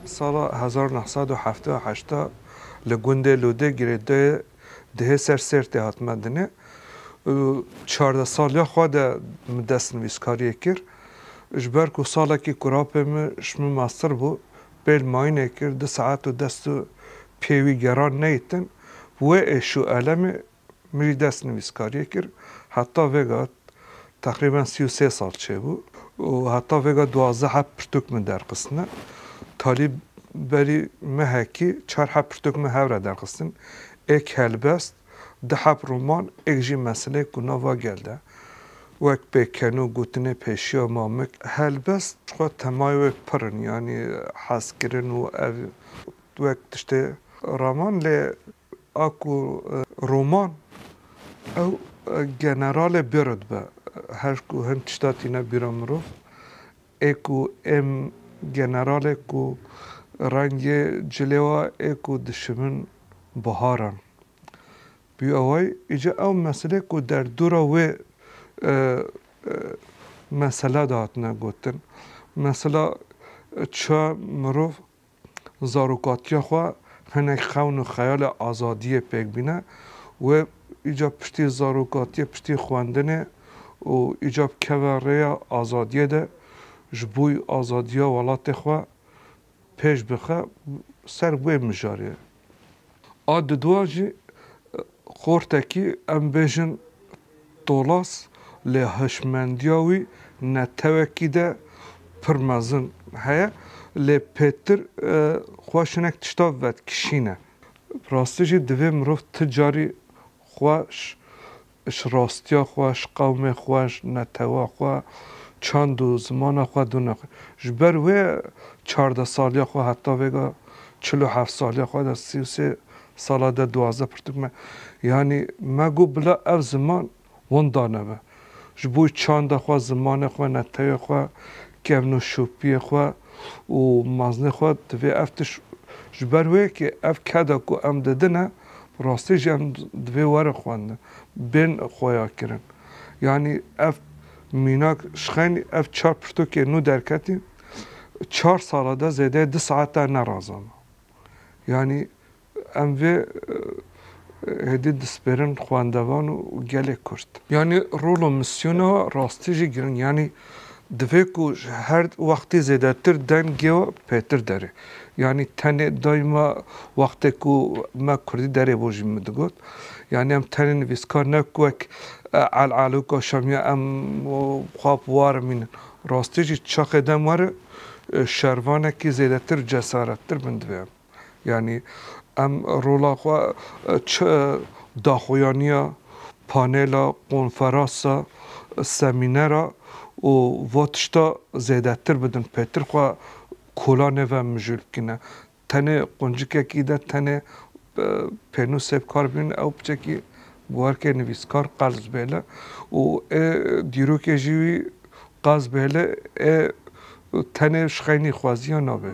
Sala hezar û neh sed û heft û heşt li gundê Lûdê girêdayê dihê ser Sêrtê hat mendinê û çardeh saliya xwe de min destnivîskariyê kir. Ji ber ku salekî kurapê min ji min meztir bû, pêl mayînê kir, du saet û dest û piyê wî geran neytin. Bi wê êş û elemê min jî dest nivîskariyê kir. Heta vêga teqrîben sî û sê sal çêbû û heta vêga duwazdeh heb pirtûk min derxistine. Talî berî mehekî çar heb pirtûk min hev re derxistin. Êk helbest, du heb roman, êk jî meseleyek ku nava gel de wek pêken û gotinê pêşiya ma mik. Helbest xwe temayê wê pir in, yanî hezkirin û ev wek tiştê raman lê. A ku Roman ew generalê Bird be, her ku hin tişta tîne bîra mirov, ê ku êm generalê ku rengê cilê wa ê ku dişimin biharan bî eway, îca ew meselê ku derdora wê mesela de hatine gotin, mesela çiya mirov, zarokatiya xwe hinek xewn û xeyala azadiyê pêk bîne wê îcar piştî zarokatiyê piştî xwendinê û îcar bikeve rêya azadiyê de ji bo azadiya welatê xwe pêş bixe ser wê mijarê. A didua jî xortekî em bêjin tolas lê hişmendiya wî netewekî de pir mezin heye lê pêtir xweş hinek tişta vedkişîne. Bi rastî jî divê mirov ti carî xweş ji rastiya xwe, ji qewmê xwe, ji netewa xwe, çand û zimana xwe dûr naxe. Ji ber wê çardeh saliya xwe heta vêga çil û heft saliya xwe de sî û sê sala de duwazdeh pirtûk me. Yanî me got bila ev ziman winda nebe. Ji bo çanda xwe, zimanê xwe, netewê xwe, kevn û şopiyê xwe. û meznê xwe divê ev tişt ji ber wê yekê ev keda ku em didin e bi rastî jî em divê werin xwendin bên xweyakirin. Yanî ev mînak şixenî ev çar pirtûkên nû derketîn çar sala de zêdeyê du saetan ne razana. Yanî Em vê êdî dispêrin xwendevan û gelê Kurd. Yanî rol û mîsyona we rastî jî giring yanî divê ku ji her wextê zêdetir dengê we bi pêtir derê. Yanî tenê daîma wextê ku me Kurdî derê bo jî min digot, yanî em tenê nivîskar ne ku wek El'Alûka Şamiya em xwe bi war imînin. Rastî jî çaxê dem were şervanekî zêdetir û cesarettir bin divê em. Yanî em rola xwe çi daxuyaniya panela, konferasa, semînera û va tişta zêdetir bidin pêtir xwe kola nêve mijûl bikîne. Tenê quncikekî de tenê pênûsê bi kar bihîne ew piçekî bi werkê nivîskar qels bêle û ê dîrokê jî wî Qas bêle e tenê şxeynî xwaziya nabe.